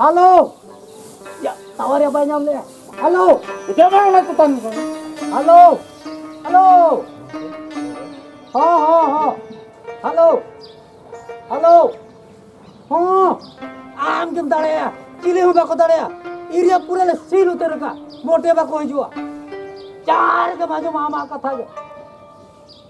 Hello tower ᱭᱟ ᱵᱟᱭ ᱧᱟᱢ ᱞᱮᱭᱟ ᱦᱮᱞᱳ ᱤᱫᱤᱭᱟ ᱵᱟᱝ ᱞᱟᱜ ᱛᱟᱱ ᱦᱮᱞᱳ ᱦᱮᱞᱳ ᱦᱚ ᱦᱚ ᱦᱚ ᱦᱮᱞᱳ ᱦᱮᱞᱳ ᱦᱚ ᱟᱢ ᱜᱮᱢ ᱫᱟᱲᱮᱭᱟ ᱪᱤᱞᱤ ᱦᱚᱸ ᱵᱟᱠᱚ ᱫᱟᱲᱮᱭᱟ ᱤᱨᱤᱭᱟ ᱯᱩᱨᱟᱹ ᱞᱮ ᱥᱤᱞ ᱩᱛᱟᱹᱨ ᱠᱟ ᱢᱚᱴᱮ ᱵᱟᱠᱚ ᱦᱤᱡᱩᱜᱼᱟ ᱪᱟᱨ ᱜᱮᱢ ᱟᱸᱡᱚᱢᱟ ᱟᱢᱟᱜ ᱠᱟᱛᱷᱟ ᱜᱮ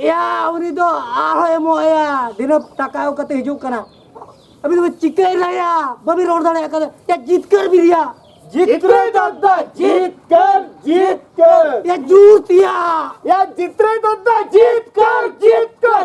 ᱭᱟ ᱩᱱᱤ ᱫᱚ ᱟᱨᱦᱚᱸ ᱮᱢᱚᱜ ᱟᱭᱟ ᱫᱤᱱᱟᱹᱢ ᱴᱟᱠᱟ ᱮᱢ ᱠᱟᱛᱮ ᱦᱤᱡᱩᱜ ᱠᱟᱱᱟ ᱟᱹᱵᱤ ᱫᱚ ᱪᱤᱠᱟᱹᱭ ᱨᱟᱭᱟ ᱵᱟᱹᱵᱤ ᱨᱚᱲ ᱫᱟᱲᱮᱭᱟᱜ ᱠᱟᱱᱟ ᱭᱟ ᱡᱤᱛᱠᱟᱹᱨ ᱵᱤᱨᱤᱭᱟ ᱡᱤᱛᱨᱮ ᱫᱟᱫᱟ ᱡᱤᱛᱠᱟᱹᱨ ᱡᱤᱛᱠᱟᱹᱨ ᱭᱟ ᱡᱩᱛ ᱭᱟ ᱭᱟ ᱡᱤᱛᱨᱮ ᱫᱟᱫᱟ ᱡᱤᱛᱠᱟᱹᱨ ᱡᱤᱛᱠᱟᱹᱨ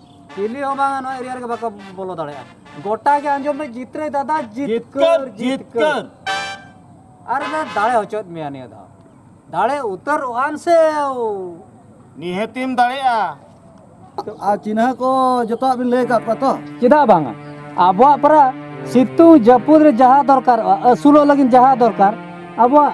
ᱪᱤᱞᱤ ᱦᱚᱸ ᱵᱟᱝᱟ ᱱᱚᱣᱟ ᱮᱨᱤᱭᱟ ᱨᱮᱜᱮ ᱵᱟᱠᱚ ᱵᱚᱞᱚ ᱫᱟᱲᱮᱭᱟᱜᱼᱟ ᱜᱚᱴᱟ ᱜᱮ ᱟᱸᱡᱚᱢ ᱢᱮ ᱡᱤᱛᱨᱮ ᱫᱟᱫᱟ ᱡᱤᱛᱠᱟᱹᱨ ᱡᱤᱛᱠᱟᱹᱨ ᱟᱨ ᱞᱮ ᱫᱟᱲᱮ ᱦᱚᱪᱚᱭᱮᱫ ᱢᱮᱭᱟ ᱱᱤᱭᱟᱹ ᱫᱷᱟᱣ ᱫᱟᱲᱮ ᱩᱛᱟᱹᱨᱚᱜ ᱟᱱ ᱥᱮ ᱱᱤᱦᱟᱹᱛᱤᱢ ᱫᱟᱲᱮᱭᱟᱜᱼᱟ ᱟᱨ ᱪᱤᱱᱦᱟᱹ ᱠᱚ ᱡᱚᱛᱚᱣᱟᱜ ᱵᱤᱱ ᱞᱟᱹᱭ ᱟᱠᱟᱫ ᱠᱚᱣᱟ ᱛᱚ ᱪᱮᱫᱟᱜ ᱵᱟᱝᱟ ᱟᱵᱚᱣᱟᱜ ᱯᱟᱨᱟ ᱥᱤᱛᱩᱝ ᱡᱟᱹᱯᱩᱫ ᱨᱮ ᱡᱟᱦᱟᱸ ᱫᱚᱨᱠᱟᱨᱚᱜᱼᱟ ᱟᱹᱥᱩᱞᱚᱜ ᱞᱟᱹᱜᱤᱫ ᱡᱟᱦᱟᱸ ᱫᱚᱨᱠᱟᱨ ᱟᱵᱚᱣᱟᱜ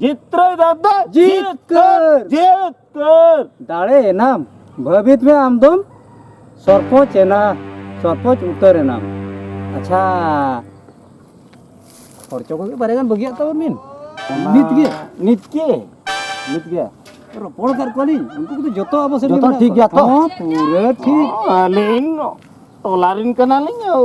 ᱡᱤᱛᱠᱟᱹᱨ ᱫᱟᱫᱟ ᱡᱤᱛᱠᱟᱹᱨ ᱡᱤᱛᱠᱟᱹᱨ ᱫᱟᱲᱮ ᱮᱱᱟᱢ ᱵᱷᱟᱹᱵᱤᱛ ᱢᱮ ᱟᱢ ᱫᱚᱢ ᱥᱚᱨᱯᱚᱸᱪ ᱮᱱᱟ ᱥᱚᱨᱯᱚᱸᱪ ᱩᱛᱟᱹᱨ ᱮᱱᱟᱢ ᱟᱪᱪᱷᱟ ᱠᱷᱚᱨᱪᱚ ᱠᱚᱜᱮ ᱵᱟᱨᱭᱟ ᱜᱟᱱ ᱵᱟᱹᱜᱤᱭᱟᱜ ᱛᱟᱵᱚᱱ ᱵᱤᱱ ᱱᱤᱛ ᱜᱮ ᱱᱤᱛ ᱜᱮ ᱱᱤᱛ ᱜᱮ ᱨᱚᱯᱚᱲ ᱠᱟᱫ ᱠᱚᱣᱟᱞᱤᱧ ᱩᱱᱠᱩ ᱠᱚᱫᱚ ᱡᱚᱛᱚ ᱟᱵᱚ ᱥᱮᱫ ᱡᱚᱛᱚ ᱴᱷᱤᱠ ᱜᱮᱭᱟ ᱛᱚ? ᱦᱚᱸ ᱯᱩᱨᱟᱹ ᱴᱷᱤᱠ ᱟᱹᱞᱤᱧ ᱴᱚᱞᱟ ᱨᱮᱱ ᱠᱟᱱᱟᱞᱤᱧ ᱟᱹᱣ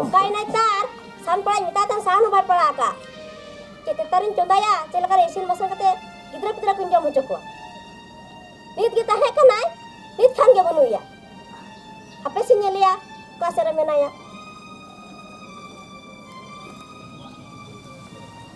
ᱚᱠᱟᱭ ᱱᱟᱭ ᱛᱟᱨ ᱥᱟᱱ ᱯᱟᱲᱟᱧ ᱢᱮᱛᱟ ᱛᱟᱢ ᱥᱟᱱ ᱦᱚᱸ ᱵᱟᱭ ᱯᱟᱲᱟ ᱟᱠᱟ ᱪᱮᱫ ᱛᱮᱛᱟᱨᱤᱧ ᱪᱚᱸᱫᱟᱭᱟ ᱪᱮᱫ ᱞᱮᱠᱟ ᱤᱥᱤᱱ ᱵᱟᱥᱟᱝ ᱠᱟᱛᱮ ᱜᱤᱫᱽᱨᱟᱹ ᱯᱤᱫᱽᱨᱟᱹ ᱠᱚᱧ ᱡᱚᱢ ᱦᱚᱪᱚ ᱠᱚᱣᱟ ᱱᱤᱛ ᱜᱮ ᱛᱟᱦᱮᱸ ᱠᱟᱱᱟᱭ ᱱᱤᱛ ᱠᱷᱟᱱ ᱜᱮ ᱵᱟᱹᱱᱩᱭᱟ ᱟᱯᱮ ᱥᱮ ᱧᱮᱞᱮᱭᱟ ᱚᱠᱟ ᱥᱮᱫ ᱨᱮ ᱢᱮᱱᱟᱭᱟ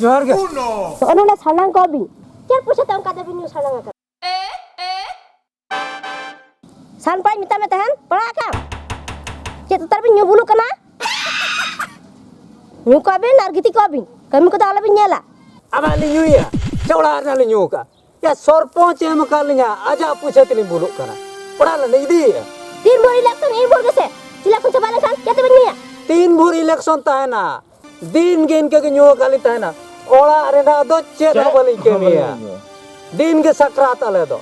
ᱡᱚᱦᱟᱨ ᱜᱮ ᱚᱱᱟ ᱞᱮ ᱥᱟᱱᱟᱝ ᱠᱚ ᱵᱤ ᱪᱮᱫ ᱯᱚᱭᱥᱟ ᱛᱟᱢ ᱠᱟᱛᱮ ᱵᱤᱱ ᱥᱟᱱᱟᱝ ᱟᱠᱟᱫ ᱥᱟᱱᱯᱟᱭ ᱢᱮᱛᱟ ᱢᱮ ᱛᱟᱦᱮᱱ ᱯᱟᱲᱟᱜ ᱠᱟᱢ ᱪᱮᱫ ᱛᱟᱨ ᱵᱤᱱ ᱧᱩ ᱵᱩᱞᱩᱜ ᱠᱟᱱᱟ ᱧᱩ ᱠᱚ ᱵᱤᱱ ᱟᱨ ᱜᱤᱛᱤᱡ ᱠᱚ ᱵᱤᱱ ᱠᱟᱹᱢᱤ ᱠᱚᱫᱚ ᱟᱞᱚ ᱵᱤᱱ ᱧᱮᱞᱟ ᱟᱵᱟᱨ ᱞᱤᱧ ᱧᱩᱭᱟ ᱪᱮ ᱚᱲᱟᱜ ᱨᱮᱱᱟᱜ ᱞᱤᱧ ᱧᱩ ᱟᱠᱟᱫᱼᱟ ᱭᱟ ᱥᱚᱨᱯᱚᱧᱪ ᱮᱢ ᱟᱠᱟᱫ ᱞᱤᱧᱟ ᱟᱡᱟᱜ ᱯᱩᱭᱥᱟᱹ ᱛᱮᱞᱤᱧ ᱵᱩᱞᱩᱜ ᱠᱟᱱᱟ ᱚᱲᱟᱜ ᱞᱮ ᱤᱫᱤᱭᱮᱜᱼᱟ ᱛᱤᱱ ᱵᱷᱳᱨ ᱤᱞᱮᱠᱥᱚᱱ ᱤᱱ ᱵᱷᱳᱨ ᱜᱮᱥᱮ ᱤᱞᱮᱠᱥᱚᱱ ᱪᱟᱵᱟ ᱞᱮᱱᱠᱷᱟᱱ ᱡᱟᱛᱮ ᱵᱮᱱ ᱧᱩᱭᱟ ᱛᱤᱱ ᱵᱷᱳᱨ ᱤᱞᱮᱠᱥᱚᱱ ᱛᱟᱦᱮᱱᱟ ᱫᱤᱱ ᱜᱮ ᱤᱱᱠᱟᱹ ᱜᱮ ᱧᱩ ᱟᱠᱟᱫ ᱞᱤᱧ ᱛᱟᱦᱮᱱᱟ ᱚᱲᱟᱜ ᱨᱮᱱᱟᱜ ᱫᱚ ᱪᱮᱫ ᱦᱚᱸ ᱵᱟᱹᱞᱤᱧ ᱠᱟᱹᱢᱤᱭᱟ ᱫᱤᱱ ᱜᱮ ᱥᱟᱠᱨᱟᱛ ᱟᱞᱮ ᱫᱚ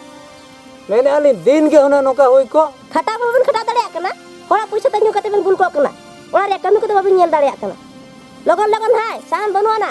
ᱢᱮᱱᱮᱫ ᱟᱹᱞᱤᱧ ᱫᱤᱱ ᱜᱮ ᱦᱩᱱᱟᱹᱝ ᱱᱚᱝᱠᱟ ᱦᱩᱭ ᱠᱚ ᱠᱷᱟᱴᱟᱣ ᱵᱟᱵᱮᱱ ᱠᱷᱟᱴᱟᱣ ᱫᱟᱲᱮᱭᱟᱜ ᱠᱟᱱᱟ ᱦᱚᱲᱟᱜ ᱯᱩᱭᱥᱟᱹ ᱛᱮ ᱧᱩ ᱠᱟᱛᱮ ᱵᱮᱱ ᱵᱩᱞ ᱠᱚᱜ ᱠᱟᱱᱟ ᱚᱲᱟᱜ ᱨᱮᱭᱟᱜ ᱠᱟᱹᱢᱤ ᱠᱚᱫᱚ ᱵᱟᱵᱮᱱ ᱧᱮᱞ ᱫᱟᱲᱮᱭᱟᱜ ᱠᱟᱱᱟ ᱞᱚᱜᱚᱱ ᱞᱚᱜᱚᱱ ᱦᱟᱭ ᱥᱟᱦᱟᱱ ᱵᱟᱹᱱᱩᱜ ᱟᱱᱟ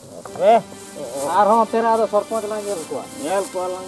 ᱟᱨᱦᱚᱸ ᱛᱮᱨᱟ ᱟᱫᱚ ᱥᱚᱨᱯᱚᱸᱪ ᱞᱟᱝ ᱧᱮᱞ ᱠᱚᱣᱟ ᱧᱮᱞ ᱠᱚᱣᱟ ᱞᱟᱝ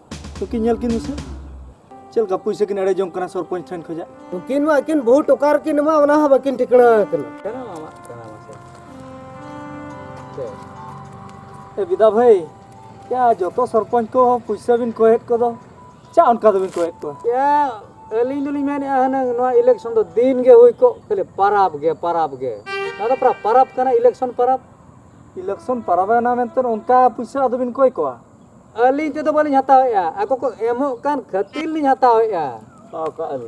ᱛᱚᱠᱤ ᱧᱮᱞ ᱠᱤᱱ ᱢᱮᱥᱮ ᱪᱮᱫ ᱞᱮᱠᱟ ᱯᱩᱭᱥᱟᱹ ᱠᱤᱱ ᱮᱲᱮ ᱡᱚᱝ ᱠᱟᱱᱟ ᱥᱚᱨᱯᱚᱧᱪ ᱴᱷᱮᱱ ᱠᱷᱚᱡᱟᱜ ᱩᱱᱠᱤᱱ ᱢᱟ ᱟᱹᱠᱤᱱ ᱵᱚᱦᱩ ᱴᱚᱠᱟᱨ ᱠᱤᱱ ᱢᱟ ᱚᱱᱟ ᱦᱚᱸ ᱵᱟᱹᱠᱤᱱ ᱴᱷᱤᱠᱟᱹᱱᱟ ᱟᱠᱟᱱᱟ ᱠᱟᱱᱟ ᱢᱟᱢᱟ ᱠᱟᱱᱟ ᱢᱟᱥᱮ ᱮ ᱵᱤᱫᱟ ᱵᱷᱟᱹᱭ ᱪᱟ ᱡᱚᱛᱚ ᱥᱚᱨᱯᱚᱧᱪ ᱠᱚ ᱯᱩᱭᱥᱟᱹ ᱵᱤᱱ ᱠᱚᱭᱮᱫ ᱠᱚᱫᱚ ᱪᱟ ᱚᱱᱠᱟ ᱫᱚᱵᱤᱱ ᱠᱚᱭᱮᱫ ᱠᱚᱣᱟ ᱪᱟ ᱟᱹᱞᱤᱧ ᱫᱚᱞᱤᱧ ᱢᱮᱱᱮᱫᱼᱟ ᱦᱩᱱᱟᱹᱝ ᱱᱚᱣᱟ ᱤᱞᱮᱠᱥᱚᱱ ᱫᱚ ᱫᱤᱱ ᱜᱮ ᱦᱩᱭ ᱠᱚᱜ ᱠᱷᱟᱹᱞᱤ ᱯᱟᱨᱟᱵᱽ ᱜᱮ ᱯᱟᱨᱟᱵᱽ ᱜᱮ ᱱᱚᱣᱟ ᱫᱚ ᱯᱟᱨᱟᱵᱽ ᱯᱟᱨᱟᱵᱽ ᱠᱟᱱᱟ ᱤᱞᱮᱠᱥᱚᱱ ᱯᱟᱨᱟᱵᱽ ᱤᱞᱮᱠᱥᱚᱱ ᱯᱟᱨᱟᱵᱽ ᱮᱱᱟ ᱢᱮᱱᱛᱮ ᱚᱱᱠᱟ ᱯᱩᱭᱥᱟᱹ ᱟᱫᱚ ᱵᱤᱱ ᱠᱚᱭ ᱠᱚᱣᱟ ᱟᱹᱞᱤᱧ ᱛᱮᱫᱚ ᱵᱟᱹᱞᱤᱧ ᱦᱟᱛᱟᱣᱮᱫᱼᱟ ᱟᱠᱚ ᱠᱚ ᱮᱢᱚᱜ ᱠᱟᱱ ᱠᱷᱟᱹᱛᱤᱨ ᱞᱤᱧ ᱦᱟᱛᱟᱣᱮᱫᱼᱟ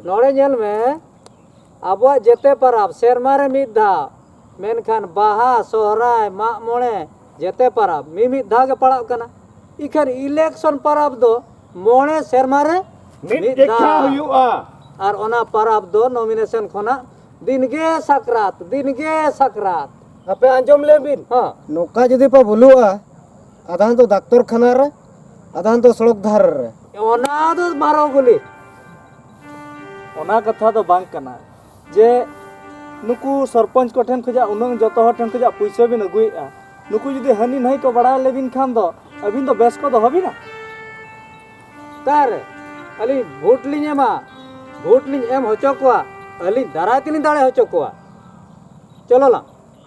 ᱱᱚᱰᱮ ᱧᱮᱞ ᱢᱮ ᱟᱵᱚᱣᱟᱜ ᱡᱮᱛᱮ ᱯᱟᱨᱟᱵᱽ ᱥᱮᱨᱢᱟ ᱨᱮ ᱢᱤᱫ ᱫᱷᱟᱣ ᱢᱮᱱᱠᱷᱟᱱ ᱵᱟᱦᱟ ᱥᱚᱦᱨᱟᱭ ᱢᱟᱜ ᱢᱚᱬᱮ ᱡᱮᱛᱮ ᱯᱟᱨᱟᱵᱽ ᱢᱤᱢᱤᱫ ᱫᱷᱟᱣ ᱜᱮ ᱯᱟᱲᱟᱜ ᱠᱟᱱᱟ ᱤᱠᱷᱟᱹᱱ ᱤᱞᱮᱠᱥᱚᱱ ᱯᱟᱨᱟᱵᱽ ᱫᱚ ᱢᱚᱬᱮ ᱥᱮᱨᱢᱟ ᱨᱮ ᱢᱤᱫ ᱫᱷᱟᱣ ᱦᱩᱭᱩᱜᱼᱟ ᱟᱨ ᱚᱱᱟ ᱯᱟᱨᱟᱵᱽ ᱫᱚ ᱱᱚᱢᱤᱱᱮᱥᱚᱱ ᱠᱷᱚᱱᱟᱜ ᱫᱤᱱᱜᱮ ᱥᱟᱠᱨᱟᱛ ᱫᱤᱱᱜᱮ ᱥᱟᱠᱨᱟᱛ ᱟᱯᱮ ᱟᱸᱡᱚᱢ ᱞᱮᱵᱤᱱ ᱱᱚᱝᱠᱟ ᱡᱩᱫᱤ ᱯᱮ ᱵᱷᱩᱞᱩᱜᱼᱟ ᱟᱫᱷᱟᱱ ᱫᱚ ᱰᱟᱠᱛᱚᱨ ᱠᱷᱟᱱᱟ ᱨᱮ ᱟᱫᱷᱟᱱ ᱫᱚ ᱥᱚᱲᱚᱠ ᱫᱷᱟᱨᱮ ᱨᱮ ᱚᱱᱟ ᱫᱚ ᱢᱟᱨᱚ ᱜᱩᱞᱤ ᱚᱱᱟ ᱠᱟᱛᱷᱟ ᱫᱚ ᱵᱟᱝ ᱠᱟᱱᱟ ᱡᱮ ᱱᱩᱠᱩ ᱥᱚᱨᱯᱚᱧᱪ ᱠᱚ ᱴᱷᱮᱱ ᱠᱷᱚᱡᱟᱜ ᱩᱱᱟᱹᱝ ᱡᱚᱛᱚ ᱦᱚᱲ ᱴᱷᱮᱱ ᱠᱷᱚᱡᱟᱜ ᱯᱩᱭᱥᱟᱹ ᱵᱤᱱ ᱟᱹᱜᱩᱭᱮᱫᱼᱟ ᱱᱩᱠᱩ ᱡᱩᱫᱤ ᱦᱟᱹᱱᱤ ᱱᱟᱹᱭ ᱠᱚ ᱵᱟᱲᱟᱭ ᱞᱮᱵᱤᱱ ᱠᱷᱟᱱ ᱫᱚ ᱟᱹᱵᱤᱱ ᱫᱚ ᱵᱮᱥ ᱠᱚ ᱫᱚᱦᱚ ᱵᱤᱱᱟ ᱚᱠᱟᱨᱮ ᱟᱹᱞᱤᱧ ᱵᱷᱳᱴ ᱞᱤᱧ ᱮᱢᱟ ᱵᱷᱳᱴ ᱞᱤᱧ ᱮᱢ ᱦᱚᱪᱚ ᱠᱚᱣᱟ ᱟᱹᱞᱤᱧ ᱫᱟᱨᱟᱭ ᱛᱮᱞᱤᱧ ᱫᱟᱲᱮ ᱦᱚᱪᱚ ᱠᱚᱣᱟ ᱪᱚᱞᱚ ᱞᱟᱝ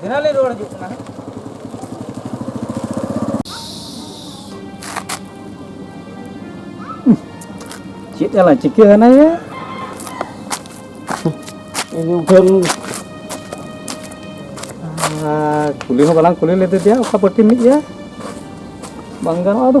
ᱫᱷᱮᱱᱟ ᱞᱮ ᱨᱩᱣᱟᱹᱲ ᱦᱤᱡᱩᱜ ᱠᱟᱱᱟ ᱪᱮᱫ ᱟᱞᱟ ᱪᱤᱠᱟᱹ ᱦᱟᱱᱟᱭᱟ ᱤᱧ ᱴᱷᱮᱱ ᱠᱩᱞᱤ ᱦᱚᱸ ᱵᱟᱞᱟᱝ ᱠᱩᱞᱤ ᱞᱮᱫᱮ ᱫᱮᱭᱟ ᱚᱠᱟ ᱯᱟᱹᱴᱤ ᱢᱤᱫ ᱜᱮᱭᱟ ᱵᱟᱝ ᱜᱟᱱᱚᱜᱼᱟ ᱟᱫᱚ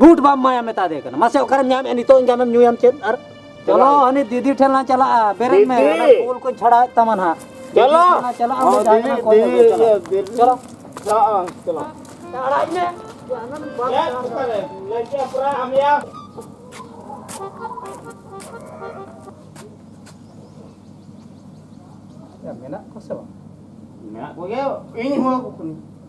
ᱜᱩᱴ ᱵᱟᱢ ᱢᱟᱭᱟ ᱢᱮᱛᱟ ᱫᱮ ᱠᱟᱱᱟ ᱢᱟᱥᱮ ᱚᱠᱟᱨᱮᱢ ᱧᱟᱢᱮ ᱱᱤᱛᱚᱜ ᱧᱟᱢᱮᱢ ᱧᱩᱭᱟᱢ ᱪᱮᱫ ᱟᱨ ᱪᱚᱞᱚ ᱦᱟᱹᱱᱤ ᱫᱤᱫᱤ ᱴᱷᱮᱱ ᱞᱟᱝ ᱪᱟᱞᱟᱜᱼᱟ ᱵᱮᱨᱮᱫ ᱢᱮ ᱚᱱᱟ ᱯᱩᱞ ᱠᱚ ᱪᱷᱟᱲᱟ ᱛᱟᱢᱟ ᱱᱟᱦᱟᱜ ᱪᱚᱞᱚ ᱪᱟᱞᱟᱜ ᱟᱢ ᱫᱤᱫᱤ ᱫᱤᱫᱤ ᱪᱚᱞᱚ ᱪᱟᱞᱟᱜ ᱟᱢ ᱪᱚᱞᱚ ᱟᱲᱟᱜ ᱢᱮ ᱞᱟᱹᱭᱠᱮ ᱯᱩᱨᱟ ᱟᱢᱭᱟ ᱢᱮᱱᱟᱜ ᱠᱚ ᱥᱮ ᱵᱟᱝ ᱢᱮᱱᱟᱜ ᱠᱚᱜᱮ ᱤᱧ ᱦᱚᱸ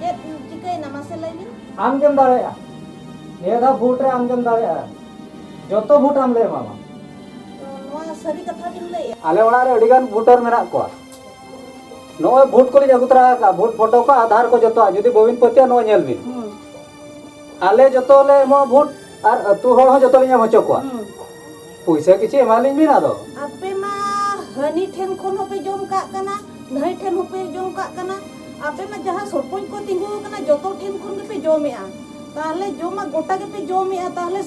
ᱪᱮᱫ ᱪᱤᱠᱟᱹᱭᱮᱱᱟ ᱢᱟᱥᱮ ᱞᱟᱹᱭ ᱵᱤᱱ ᱟᱢ ᱜᱮᱢ ᱫᱟᱲᱮᱭᱟᱜᱼᱟ ᱱᱤᱭᱟᱹ ᱫᱷᱟᱣ ᱵᱷᱳᱴ ᱨᱮ ᱟᱢ ᱜᱮᱢ ᱫᱟᱲᱮᱭᱟᱜᱼᱟ ᱡᱚᱛᱚ ᱵᱷᱳᱴ ᱟᱢ ᱞᱮ ᱮᱢᱟᱢᱟ ᱛᱚ ᱱᱚᱣᱟ ᱥᱟᱹᱨᱤ ᱠᱟᱛᱷᱟ ᱵᱤᱱ ᱞᱟᱹᱭᱮᱫᱼᱟ ᱟᱞᱮ ᱚᱲᱟᱜ ᱨᱮ ᱟᱹᱰᱤ ᱜᱟᱱ ᱵᱷᱳᱴᱟᱨ ᱢᱮᱱᱟᱜ ᱠᱚᱣᱟ ᱱᱚᱜᱼᱚᱭ ᱵᱷᱳᱴ ᱠᱚᱞᱤᱧ ᱟᱹᱜᱩ ᱛᱚᱨᱟ ᱟᱠᱟᱫᱼᱟ ᱵᱷᱳᱴ ᱯᱷᱳᱴᱳ ᱠᱚ ᱟᱫᱷᱟᱨ ᱠᱚ ᱡᱚᱛᱚᱣᱟᱜ ᱡᱩᱫᱤ ᱵᱟᱹᱵᱤᱱ ᱯᱟᱹᱛᱭᱟᱹᱜᱼᱟ ᱱᱚᱜᱼᱚᱭ ᱧᱮᱞ ᱵᱤᱱ ᱟᱞᱮ ᱡᱚᱛᱚ ᱞᱮ ᱮᱢᱚᱜᱼᱟ ᱵᱷᱳᱴ ᱟᱨ ᱟᱹᱛᱩ ᱦᱚᱲ ᱦᱚᱸ ᱡᱚᱛᱚ ᱞᱤᱧ ᱮᱢ ᱦᱚᱪᱚ ᱠᱚᱣᱟ ᱯᱚᱭᱥᱟ ᱠᱤᱪᱷᱩ ᱮᱢᱟᱞᱤᱧ ᱵᱤᱱ ᱟᱫᱚ ᱟᱯᱮ ᱢᱟ ᱦᱟᱹᱱᱤ ᱴᱷᱮᱱ ᱠᱷᱚᱱ ᱦᱚᱸᱯᱮ ᱡᱚᱢ ᱠᱟᱜ ᱠᱟᱱᱟ ᱱᱟᱹᱭ ᱴᱷᱮᱱ ᱦᱚᱸᱯᱮ ᱡᱚᱢ ᱠᱟᱜ ᱠᱟᱱᱟ ᱟᱯᱮ ᱢᱟ ᱡᱟᱦᱟᱸ ᱥᱚᱨᱯᱚᱧᱡᱽ ᱠᱚ ᱛᱤᱸᱜᱩ ᱟᱠᱟᱱᱟ ᱡᱚᱛᱚ ᱴᱷᱮᱱ ᱠᱷᱚᱱ ᱜᱮᱯᱮ ᱡᱚᱢᱮᱜᱼᱟ ᱛᱟᱦᱞᱮ ᱡᱚᱢᱟ ᱜᱚᱴᱟ ᱜᱮᱯᱮ ᱡᱚᱢᱮᱜᱼᱟ ᱛᱟᱦᱞᱮ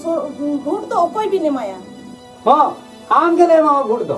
ᱵᱷᱳᱴ ᱫᱚ ᱚᱠᱚᱭ ᱵᱤᱱ ᱮᱢᱟᱭᱟ ᱦᱚᱸ ᱟᱢ ᱜᱮᱞᱮ ᱮᱢᱟᱢᱟ ᱵᱷᱳᱴ ᱫᱚ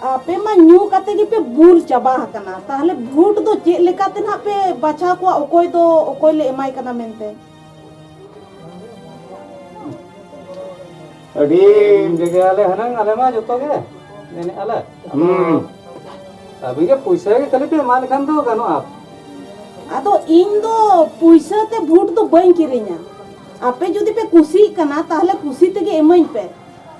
ᱟᱯᱮ ᱢᱟ ᱧᱩ ᱠᱟᱛᱮ ᱜᱮᱯᱮ ᱵᱩᱞ ᱪᱟᱵᱟ ᱟᱠᱟᱱᱟ ᱛᱟᱦᱞᱮ ᱵᱷᱳᱴ ᱫᱚ ᱪᱮᱫ ᱞᱮᱠᱟᱛᱮ ᱱᱟᱜ ᱯᱮ ᱵᱟᱪᱷᱟᱣ ᱠᱚᱣᱟ ᱚᱠᱚᱭ ᱫᱚ ᱚᱠᱚᱭ ᱞᱮ ᱮᱢᱟᱭ ᱠᱟᱱᱟ ᱢᱮᱱᱛᱮ ᱟᱹᱰᱤ ᱡᱟᱭᱜᱟᱞᱮ ᱦᱟᱱᱟᱝ ᱟᱞᱮ ᱢᱟ ᱡᱚᱛᱚ ᱜᱮ ᱢᱮᱱᱮᱫ ᱟᱞᱮ ᱟᱹᱵᱤᱱ ᱜᱮ ᱯᱩᱭᱥᱟᱹ ᱜᱮ ᱠᱷᱟᱹᱞᱤ ᱯᱮ ᱮᱢᱟ ᱞᱮᱠᱷᱟᱱ ᱫᱚ ᱜᱟᱱᱚᱜᱼᱟ ᱟᱫᱚ ᱤᱧ ᱫᱚ ᱯᱩᱭᱥᱟᱹ ᱛᱮ ᱵᱷᱳᱴ ᱫᱚ ᱵᱟᱹᱧ ᱠᱤᱨᱤᱧᱟ ᱟᱯᱮ ᱡᱩᱫᱤ ᱯᱮ ᱠᱩᱥᱤᱜ ᱠᱟᱱᱟ ᱛᱟᱦᱞᱮ ᱠᱩᱥᱤ ᱛᱮᱜᱮ ᱮᱢᱟᱹᱧ ᱯᱮ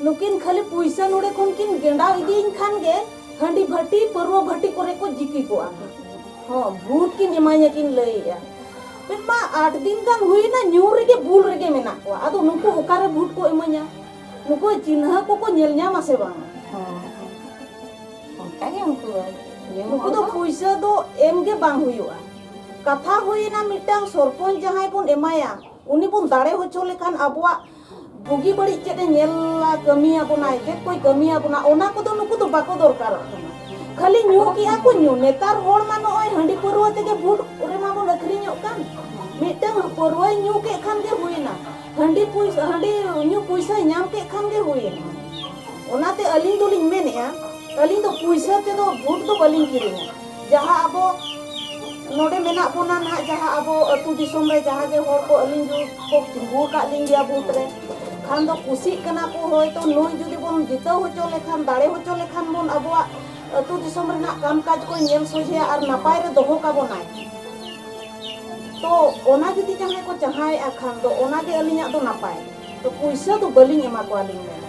ᱱᱩᱠᱤᱱ ᱠᱷᱟᱹᱞᱤ ᱯᱩᱭᱥᱟᱹ ᱱᱚᱰᱮ ᱠᱷᱚᱱ ᱠᱤᱱ ᱜᱮᱸᱰᱟᱣ ᱤᱫᱤᱭᱤᱧ ᱠᱷᱟᱱ ᱜᱮ ᱦᱟᱺᱰᱤ ᱵᱷᱟᱹᱴᱤ ᱯᱟᱹᱨᱣᱟᱹ ᱵᱷᱟᱹᱴᱤ ᱠᱚᱨᱮ ᱠᱚ ᱡᱤᱠᱤ ᱠᱚᱜᱼᱟ ᱦᱚᱸ ᱵᱷᱩᱴ ᱠᱤᱱ ᱮᱢᱟᱧᱟ ᱠᱤᱱ ᱞᱟᱹᱭᱮᱜᱼᱟ ᱢᱮᱱ ᱢᱟ ᱟᱴ ᱫᱤᱱ ᱜᱟᱱ ᱦᱩᱭᱱᱟ ᱧᱩ ᱨᱮᱜᱮ ᱵᱩᱞ ᱨᱮᱜᱮ ᱢᱮᱱᱟᱜ ᱠᱚᱣᱟ ᱟᱫᱚ ᱱᱩᱠᱩ ᱚᱠᱟᱨᱮ ᱵᱷᱩᱴ ᱠᱚ ᱮᱢᱟᱹᱧᱟ ᱱᱩᱠᱩ ᱪᱤᱱᱦᱟᱹ ᱠᱚᱠᱚ ᱧᱮᱞ ᱧᱟᱢᱟ ᱥᱮ ᱵᱟᱝ ᱚᱱᱠᱟ ᱜᱮ ᱩᱱᱠᱩ ᱫᱚ ᱱᱩᱠᱩ ᱫᱚ ᱯᱩᱭᱥᱟᱹ ᱫᱚ ᱮᱢ ᱜᱮ ᱵᱟᱝ ᱦᱩᱭᱩᱜᱼᱟ ᱠᱟᱛᱷᱟ ᱦᱩᱭᱱᱟ ᱢᱤᱫᱴᱟᱝ ᱥᱚᱨᱯᱚᱧᱪ ᱡᱟᱦᱟᱸᱭ ᱵᱚᱱ ᱮᱢᱟᱭᱟ ᱩᱱᱤ ᱵᱚᱱ ᱫᱟᱲᱮ ᱦᱚᱪᱚ ᱞᱮᱠᱷᱟᱱ ᱟᱵᱚᱣᱟᱜ ᱵᱩᱜᱤ ᱵᱟᱹᱲᱤᱡ ᱪᱮᱫ ᱮ ᱧᱮᱞᱟ ᱠᱟᱹᱢᱤᱭᱟ ᱵᱚᱱᱟᱭ ᱪᱮᱫ ᱠᱚᱭ ᱠᱟᱹᱢᱤᱭᱟ ᱵᱚᱱᱟ ᱚᱱᱟ ᱠᱚᱫᱚ ᱱᱩᱠᱩ ᱫᱚ ᱵᱟᱠᱚ ᱫᱚᱨᱠᱟᱨᱚᱜ ᱠᱟᱱᱟ ᱠᱷᱟᱹᱞᱤ ᱧᱩ ᱠᱮᱜᱼᱟ ᱠᱚ ᱧᱩ ᱱᱮᱛᱟᱨ ᱦᱚᱲ ᱢᱟ ᱱᱚᱜᱼᱚᱭ ᱦᱟᱺᱰᱤ ᱯᱟᱹᱨᱣᱟᱹ ᱛᱮᱜᱮ ᱵᱷᱩᱴ ᱨᱮᱢᱟ ᱵᱚᱱ ᱟᱹᱠᱷᱨᱤᱧᱚᱜ ᱠᱟᱱ ᱢᱤᱫᱴᱟᱝ ᱯᱟᱹᱨᱣᱟᱹᱭ ᱧᱩ ᱠᱮᱫ ᱠᱷᱟᱱ ᱜᱮ ᱦᱩᱭᱱᱟ ᱦᱟᱺᱰᱤ ᱯᱩᱭᱥᱟᱹ ᱦᱟᱺᱰᱤ ᱧᱩ ᱯᱩᱭᱥᱟᱹᱭ ᱧᱟᱢ ᱠᱮᱫ ᱠᱷᱟᱱ ᱜᱮ ᱦᱩᱭᱱᱟ ᱚᱱᱟᱛᱮ ᱟᱹᱞᱤᱧ ᱫᱚᱞᱤᱧ ᱢᱮᱱᱮᱜᱼᱟ ᱟᱹᱞᱤᱧ ᱫᱚ ᱯᱩᱭᱥᱟᱹ ᱛᱮᱫᱚ ᱵᱷᱩᱴ ᱫᱚ ᱵᱟᱹᱞᱤᱧ ᱠᱤᱨᱤᱧᱟ ᱡᱟᱦᱟᱸ ᱟᱵᱚ ᱱᱚᱰᱮ ᱢᱮᱱᱟᱜ ᱵᱚᱱᱟ ᱱᱟᱦᱟᱜ ᱡᱟᱦᱟᱸ ᱟᱵᱚ ᱟᱹᱛᱩ ᱫᱤᱥᱚᱢ ᱨᱮ ᱡᱟᱦᱟᱸ ᱜᱮ ᱦᱚᱲ ᱠᱚ ᱟᱹᱞᱤᱧ ᱡᱩᱫᱤ ᱠᱚ ᱛᱤᱸᱜᱩ ᱟᱠᱟᱫ ᱞᱤᱧ ᱜᱮᱭᱟ ᱵᱷᱳᱴ ᱨᱮ ᱠᱷᱟᱱ ᱫᱚ ᱠᱩᱥᱤᱜ ᱠᱟᱱᱟ ᱠᱚ ᱦᱚᱭᱛᱳ ᱱᱩᱭ ᱡᱩᱫᱤ ᱵᱚᱱ ᱡᱤᱛᱟᱹᱣ ᱦᱚᱪᱚ ᱞᱮᱠᱷᱟᱱ ᱫᱟᱲᱮ ᱦᱚᱪᱚ ᱞᱮᱠᱷᱟᱱ ᱵᱚᱱ ᱟᱵᱚᱣᱟᱜ ᱟᱹᱛᱩ ᱫᱤᱥᱚᱢ ᱨᱮᱱᱟᱜ ᱠᱟᱢ ᱠᱟᱡᱽ ᱠᱚᱭ ᱧᱮᱞ ᱥᱚᱡᱷᱮᱭᱟ ᱟᱨ ᱱᱟᱯᱟᱭ ᱨᱮ ᱫᱚᱦᱚ ᱠᱟᱵᱚᱱᱟᱭ ᱛᱚ ᱚᱱᱟ ᱡᱩᱫᱤ ᱡᱟᱦᱟᱸᱭ ᱠᱚ ᱪᱟᱦᱟᱣᱮᱫᱼᱟ ᱠᱷᱟᱱ ᱫᱚ ᱚᱱᱟᱜᱮ ᱟᱹᱞᱤᱧᱟᱜ ᱫᱚ ᱱᱟᱯᱟᱭ ᱛᱚ ᱯᱩᱭᱥᱟᱹ ᱫᱚ ᱵᱟᱹᱞᱤᱧ ᱮᱢᱟ ᱠᱚᱣᱟ ᱞᱤᱧ ᱢᱮᱱᱟ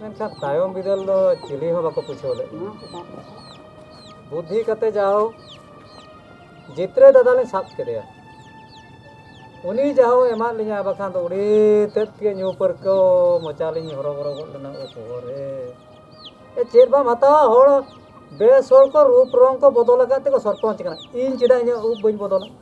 ᱢᱮᱱᱠᱷᱟᱱ ᱛᱟᱭᱚᱢ ᱵᱤᱫᱟᱹᱞ ᱫᱚ ᱪᱤᱞᱤ ᱦᱚᱸ ᱵᱟᱠᱚ ᱯᱩᱪᱷᱟᱹᱣ ᱞᱮᱫ ᱞᱤᱧᱟ ᱵᱩᱫᱽᱫᱷᱤ ᱠᱟᱛᱮ ᱡᱟᱣ ᱡᱤᱛᱨᱮ ᱫᱟᱫᱟ ᱞᱤᱧ ᱥᱟᱵ ᱠᱮᱫᱮᱭᱟ ᱩᱱᱤ ᱡᱟᱣ ᱮᱢᱟᱫ ᱞᱤᱧᱟ ᱵᱟᱠᱷᱟᱱ ᱫᱚ ᱩᱱᱤ ᱛᱮᱫ ᱜᱮ ᱧᱩ ᱯᱟᱹᱨᱠᱟᱹᱣ ᱢᱚᱪᱟ ᱞᱤᱧ ᱦᱚᱨᱚᱵᱚᱨᱚ ᱜᱚᱫ ᱞᱮᱱᱟ ᱳ ᱵᱚᱦᱚᱜ ᱨᱮ ᱮ ᱪᱮᱫ ᱵᱟᱢ ᱦᱟᱛᱟᱣᱟ ᱦᱚᱲ ᱵᱮᱥ ᱦᱚᱲ ᱠᱚ ᱨᱩᱯ ᱨᱚᱝ ᱠᱚ ᱵᱚᱫᱚᱞ ᱟᱠᱟᱫ ᱛᱮᱠᱚ ᱥᱚᱨᱯᱚᱧᱪ ᱠᱟᱱᱟ ᱤᱧ ᱪᱮᱫᱟᱜ ᱤᱧᱟᱹᱜ ᱩᱵ ᱵᱟᱹᱧ ᱵᱚᱫᱚᱞᱟ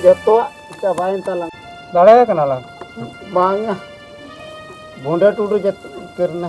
ᱡᱚᱛᱚᱣᱟᱜ ᱪᱟᱵᱟᱭᱮᱱ ᱛᱟᱞᱟᱝ ᱫᱟᱲᱮᱭᱟ ᱠᱟᱱᱟ ᱞᱟᱝ ᱵᱟᱝᱟ ᱵᱷᱩᱸᱰᱟᱹ ᱴᱩᱰᱩ ᱡᱚᱛᱚ ᱠᱟᱹᱨᱱᱟ